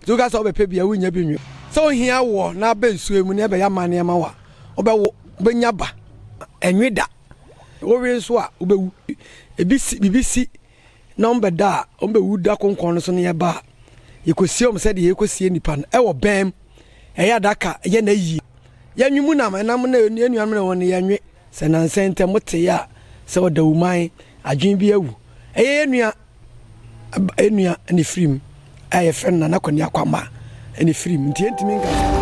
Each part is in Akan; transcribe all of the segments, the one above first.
Dze woka sɛ wɔbɛpɛ bi a, wonnya bi nnwo. Sɛ ohia wo na abɛ nsuoi mu na ɛbɛyɛ amanneɛ ma wo a, wobɛwo, wobɛnya ba, ɛnwe da. Wowe nso a, wobɛwu. Ebi si, biribi si na wɔbɛda a, wɔbɛwu da konkɔn no so na yɛba a, yɛkɔsie wɔn sɛdeɛ yɛkɔsie nnipa no. Ɛwɔ bɛn, ɛyɛ adaka, ɛyɛ n'ayie. Yɛnwe mu nam, ɛnam na yɛn nuanom ne wɔn no, yɛnwe. Sɛ nnansa yi ntɛm wotee a sɛ wɔda wo man, adwene bi awu, ɛyɛ yɛn nua. Yɛn nua ne firim a yɛfrɛ no Nana Kwani Akwamma ne firim nti yɛntumi nka sɛ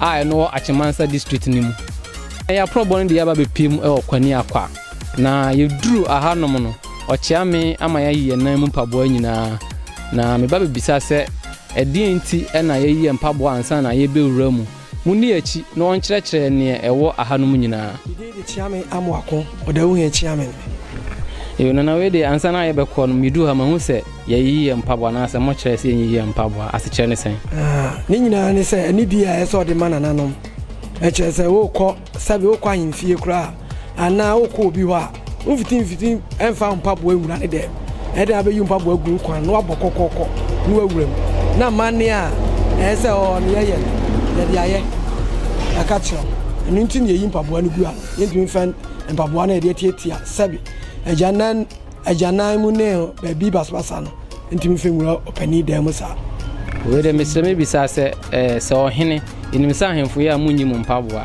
a ɛno wɔ Achemansa District no mu. Ná yɛaprɔbɔ no de yɛaba bepue mu wɔ Kwaniakwa. Na yeduruu hanom no, ɔkyea me ama yɛayi yɛn nan mu mpaboa nyinaa. Na me ba bebisa sɛ, Ɛdeɛn nti na yɛayi yɛn mpaboa ansa na yɛrebɛwura mu? Monni yɛn akyi na ɔnkyerɛkyerɛ yɛn neɛ ɛwɔ hanom nyinaa. Ne din de Kyeame Amoako Ɔdawuhene Kyeame. Yo, Nana wei deɛ ansa na yɛrebɛkɔ no, meduu ha mahu sɛ. Yɛyi yɛn mpaboa anaasɛ mokyerɛ sɛ yɛnyiyi yɛn mpaboa, asekyerɛ ne sɛn? Ne nyinaa ne sɛ, anidie a ɛyɛ sɛ ɔde ma nananom. Ɛkyerɛ sɛ worekɔ sɛbe, worekɔ ahemfie koraa anaa worekɔ obi hɔ a, womfiti mfiti mfa wo mpaboa nwura ne dɛm. Ɛyɛ dɛn a wobɛyi wo mpaboa agu wo kwan na woabɔ kɔkɔkɔ na woawura mu. Na amanneɛ a ɛyɛ sɛ ɔɔ ne yɛyɛ no, yɛde ayɛ aka kyerɛ wo. Ɛno nti na yɛyi mpaboa no gu a yɛntumi mfa mpaboa no a yɛde atiatia sɛbe agya nan. Agyanan mu ne baabi basabasa no ntumi mfa nwura ɔpanin dan mu saa. Wei de mesrɛ mebisa sɛ eh, sɛ ɔhene ɛnim sɛ ahemfo yɛ a monyi mo mpaboa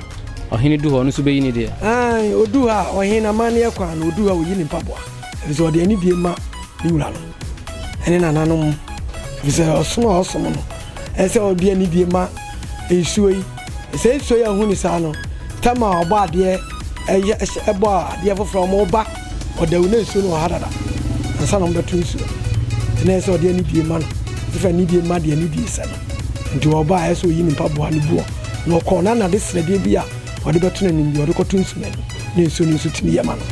ɔhene du hɔ no nso bɛyi ne deɛ Ae, ɔdu hɔ a ɔhene amanneɛ kwan no ɔdu hɔ a ɔyi ne mpaboa ɛfiri sɛ ɔde anidie ma ne wura no ɛne nananom ɛfiri sɛ ɔsom a ɔsom no ɛsɛ sɛ ɔde anidie ma nsuo yi Sɛ nsua yi a huni saa no, tam a ɔbɔ adeɛ yɛ hyɛ bɔ adeɛ foforɔ a wɔba ɔdawu na nsuo no wɔ ha dada ansa na wɔbɛto nsuo no. Nti na ɛyɛ sɛ ɔde anidie ma no, ɛfɛ anidie ma deɛ anidie sɛ no. Nti ɔba a ɛyɛ sɛ ɔyi ne mpaboa ne boɔ na ɔkɔ na nade srɛdeɛ bi a ɔde bɛto n'anim deɛ ɔde kɔto nsuo no ani na nsuo no nso tumi yɛ ma no.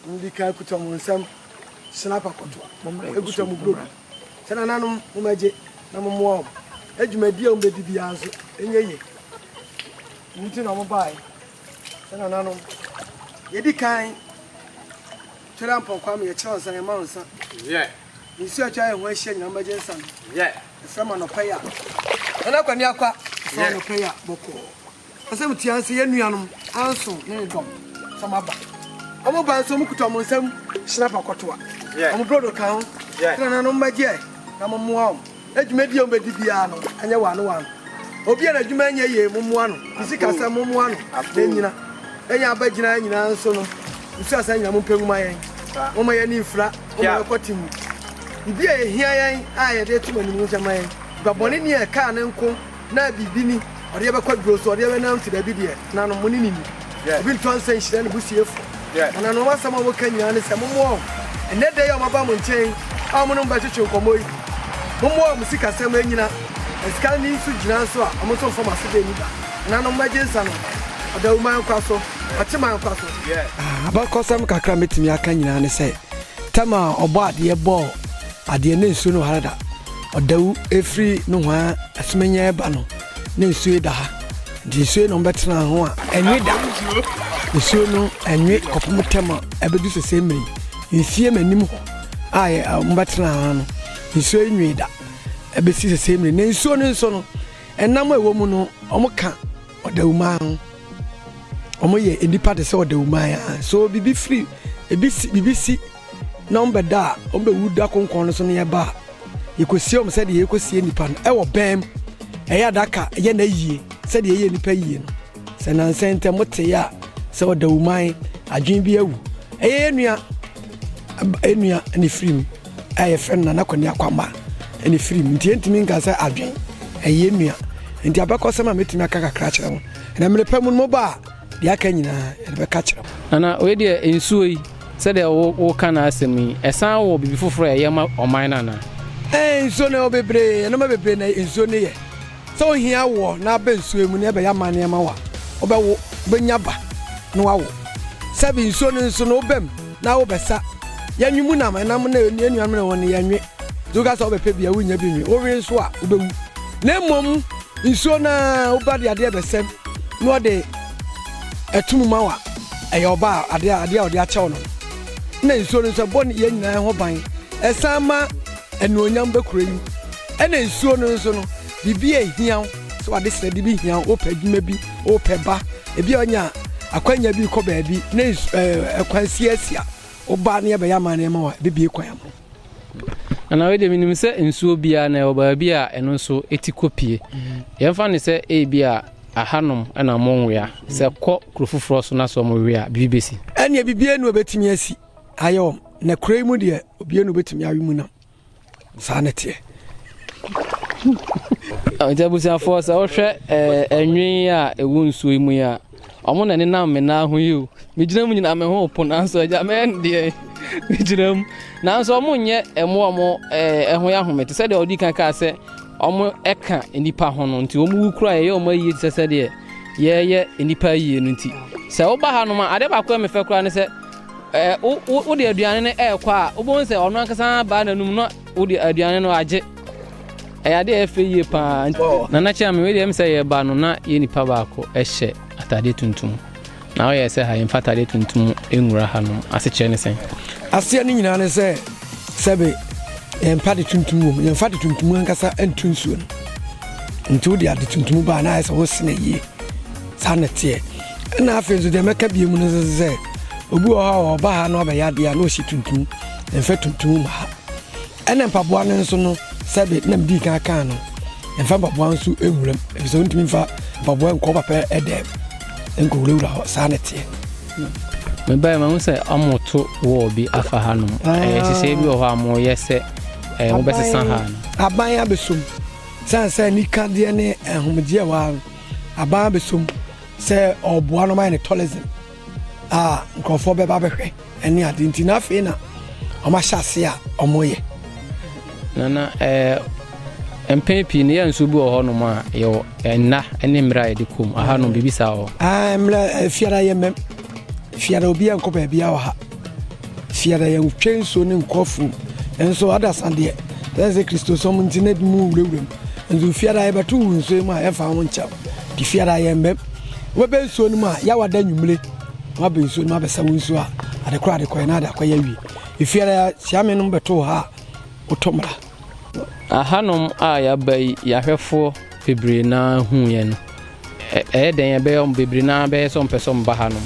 Mundi kan kuta mo nsam hyena pakoto, ekuta mo brodo sɛ nananom mommɛgye na mommoa wɔn, na dwumadi a wɔbɛdi biara nso nyɛ yie. Ɛno nti na wɔbaeɛ sɛ nananom. Yɛdi kan twɛre apɔnkɔ ama yɛkyerɛ wo nsa, yɛma wo nsa. Nsuo a atwa yɛn ho ahyia nyinaa mommɛgye nsa no. Ɛfrɛ mo anɔpa yi a, nana Kwani Akwa, ɛfrɛ mo anɔpa yi a, bɔkɔɔ. Asɛm tiaa ne sɛ, Yɛn nuanom, Anson ne ne dɔm, sɛ moaba a. Wɔba nso, mukuta wɔn nsam hyena pɔkɔtɔ a wɔn brodo ka ho. Tena na mommɛgye ɛ, na mommoa wɔn, na dwumadi a wɔbɛdi biara no nyɛ wɔn ano wɔn ano. Obi a n'adwuma nyɛ yie, mommoa no, ne sikasɛm, mommoa no, na ennyina. Yɛn a aba gyinae nyinaa nso no, musuaa saa nyinaa. Mompɛ ngu ma yɛn. Momma yɛn ani mfira. Momma yɛnkɔ te mu. Biribi a ehia yɛn a yɛde reto mo anim no, nhyɛ mma yɛn. Nnipa bɔne ni a ɛkaa ne nko. Na biribi ni, ɔde yɛn bɛkɔ aduro so, ɔde yɛn bɛnanti baabi deɛ, nanom mo ne ne ni. Obi ntoa nsa nhyira ne busuafoɔ. Na nanom asɛm a wɔka nyinaa ne sɛ mommoa wɔn. Ɛnnɛ da yi a wɔaba mo nkyɛn a wɔne mo bɛtwetwe nkɔmmɔ yi, mommoa wɔn sikasɛm nnyina, na sika nni nso gyina nso a, wɔn nso mfa mo aseda nni da. Nanom mmɛgye nsa no, ɔdawu man nkwa so, ɔkye man nkwa so. Abakɔsɛm kakra a mɛtumi aka nyinaa ne sɛ, tɛm a Ɔbɔadeɛ bɔɔ. Adeɛ ne nsuo no hareda ɔdawu ɛfiri nohoaa asemanya ɛba no ne nsuo yi daha nti nsuo yi na ɔmbɛtena ho a ɛnwe da nsuo no ɛnwe kɔpem tɛm a ɛbɛdu sesei mmerɛ yi nsie manim hɔ a yɛ ɔmbɛtena ho no nsuo yi nwee da ɛbɛsi sesei mmerɛ na nsuo no nso no ɛnam ɛwɔ mu no ɔmo ka ɔdawumaa ho ɔmo yɛ nnipa te sɛ ɔdawumaa so bibi firi bibi si na wɔn bɛda a wɔn bɛwu da kronkron no so no yɛba a, yɛkɔsie wɔn sɛdeɛ yɛkɔsie nnipa no wɔ bɛn mu, ɛyɛ adaka, ɛyɛ na yie, sɛdeɛ ɛyɛ nnipa yie no. Sɛ nansɛ ntɛm motee a sɛ ɔda wuman, adwene bi awu, ɛyɛ yɛ nua, yɛ nua ne firim a yɛfrɛ no Nana Kwani Akwamba ne firim, nti yɛntumi nka sɛ adwene, ɛyɛ nua. Nti abakɔsɛm a mɛtumi aka kakra kyerɛ mo, na mmerɛ pa mu no moba a, Deɛ aka nyinaa yɛde bɛka akyerɛ mo. Nana, wei deɛ nsuo yi, sɛdeɛ wo woka no asɛm yi, ɛsan wɔ biribi foforɔ a ɛyɛ ma ɔman no anaa? Ɛɛ, nsuo no ɛwɔ bebree, nneɛma bebree na nsuo no yɛ. Sɛ wohia woɔ na aba nsuo mu na ɛbɛyɛ amanneɛ ma wo a, wobɛwo, wobɛnya ba na woawo. Sɛbe nsuo no nso no, woba mu na wobɛsa. Yɛnwe mu nam, ɛnam na yɛn nuanom na wɔn no, yɛnwe. Dze woka sɛ wobɛpɛ bi a worennya bi nnwe, wowe nso a wobɛwu. Na mmom nsuo no ara wo ba de adeɛ bɛsɛm na ɔde ɛto mu ma wo a, ɛyɛ ɔba a adeɛ a adeɛ a ɔde akyɛ wo no. Ɛna nsuo no nso ɛbɔ nneyɛɛ nyinaa ho ban, ɛsan ma anuonyam ba kuro yi mu. Ɛna nsuo no nso no, biribi a ɛhia wo sɛ wode srɛde bi hia wo, wopɛ adwuma bi, wopɛ ba, ebi a woanya akwanya bi rekɔ baabi na nsu ɛɛ ɛkwan siasia wo ba na yɛbɛyɛ amanneɛ ma wo a, ɛbɛbue kwan ama wo. Anaa wei deɛ menim sɛ nsuo biara na ɛwɔ baabi a ɛno nso ɛti kɔpie. Yɛmfa ne sɛ ebi a ahanom na mowea sɛ kɔ kuro foforɔ so na sɛ ɔmowe a biribi bɛsi. Ɛneɛ bibie ne ɔbɛtumi asi ayɛ wɔm na kuro yi mu deɛ obie ne ɔbɛtumi awe mu nam saa ne teɛ. Nti abusuafoɔ sɛ wohwɛ ɛnwen a ɛwɔ nsuo yi mu yi a Ɔmo na ɛnenam me nan ho yi o. Megyina mu nyinaa me ho repo nanso agya mɛyɛ no deɛ megyina mu. Nanso ɔmo nyɛ ɛmo ɔmo ɛɛ ɛho yɛ ahome te sɛ deɛ ɔdi kan kaa sɛ ɔmo ɛka nipa ho no nti ɔmo wu kura yɛyɛ ɔmo ayie te sɛ sɛ deɛ yɛyɛ nipa ayie no nti sɛ woba ha nom a adeɛ baako a mefɛ kura ne sɛ ɛɛ wo wo de aduane no ɛɛkɔ a wobɛhu sɛ ɔno ankasa baa n'anum no Wode aduane no agye. Ɛyɛ ade a ɛyɛ fɛ yie paa. Nana Kyerɛme, wei deɛ ɛm sɛ yɛba no na yɛ nipa baako ɛhyɛ ataadeɛ tuntum. Na woyɛ sɛ ha yɛmfa ataadeɛ tuntum nwura hanom. Asekyerɛ ne sɛn? Aseɛ no nyinaa ne sɛ sɛbe yɛmpa ade tuntum wom, yɛmfa ade tuntum ankasa nto nsuo no. Nti wode ade tuntum ba a na ayɛ sɛ wosene yie. Saa na ɛteɛ. Ɛna afei nso deɛ mɛka bie mu no nso sɛ obi wɔ hɔ a ɔba ha na ɔbɛyɛ adeɛ a na ɔsi tuntum mfa tuntum ma ha ɛna mpaboa no nso no sɛbe na medi kan kaa no mfa mpaboa nso nwuram efisɛ ɔntumi mfa mpaboa nkɔ papa ɛdɛm nkɔwurawura hɔ saa na ɛteɛ mebae mahu sɛ ɔmoto wɔɔ bi afa ha nom ɛhyehyɛ bi wɔ hɔ a moyɛ sɛ wobɛsesa ha no aban abɛsom sane sɛ nikadeɛ ne ahomegyeɛ wɔ ha no Aban abɛsom sɛ ɔreboa no ma yɛ ne tourism a nkurɔfoɔ bɛba bɛhwɛ ɛne ade nti na afei na wɔn ahyɛ ase a wɔyɛ. Nana ɛɛ eh, mpɛn pii no yɛ nso bi wɔ hɔnom a yɛwɔ eh, nna ne mmerɛ a yɛde kɔm ahanom biribi saa wɔ. Ah, mmerɛ eh, fiara yɛ mmɛm. Fiada obiara nkɔ baabiara wɔ ha. Fiada yɛntwe nsuo ne nkɔ afuom. Nso adasa deɛ sɛ sɛ kristosom nti na ebinom wurawura mu. Nso fiada yɛbɛto wo nsuo mu a yɛmfa ho nkyɛw. Nti fiada yɛmbɛm. Wobɛbɛ nsuo no mu a yawa da nwummere. Wabɛ nsuo no mu abɛsa wo nsuo a ade korɔ ade kɔɛ na ade akɔyɛ awie. Fiada siame nom bɛto wo ha a wotɔ mmra. Ahanom a yɛaba yi, yɛahwɛfoɔ bebree no ara huuiɛ no, ɛyɛ dɛn ɛbɛyɛ wɔn bebree no ara bɛyɛ sɛ wɔmpɛ sɛ wɔba hanom?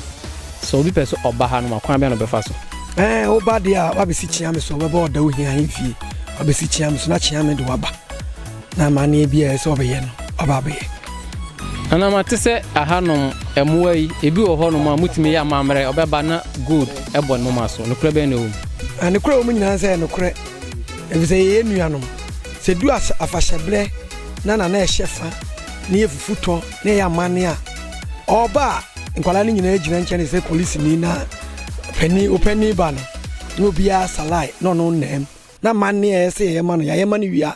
Sɛ obi pɛ sɛ ɔba hanom a, kwan bɛn na ɔbɛfa so? Ɛɛ, woba deɛ a, woabɛsi Kyeame so, wobɛba Ɔdawohia ahemfie, woabɛsi Kyeame so na Kyeame de woaba, na amanneɛ biara a ɛsɛ sɛ wɔbɛyɛ no, woaba abɛyɛ. Nana, mate sɛ ahanom mmoa yi, ebi wɔ hɔnom a, motumi yɛ amammerɛ, wɔbɛba na gold bɔ ne moma so. Nokorɛ bɛn na ɛwɔ mu? Nokorɛ a ɛwɔ mu nyinaa ne sɛ, ɛyɛ nokorɛ. Efisɛ yɛyɛ nuanom, sɛ edu afahyɛ bere na nana a ɛhyɛ fa ne yɛ fufu tɔ na ɛyɛ amanne a, ɔba a, nkwadaa no nyinaa gyina nkyɛn te sɛ polisini na panin, opanin ba no, na obiara salae na ɔno nnam. Na amanne a ɛsɛ sɛ yɛyɛ ma no, yɛayɛ ma no wie a,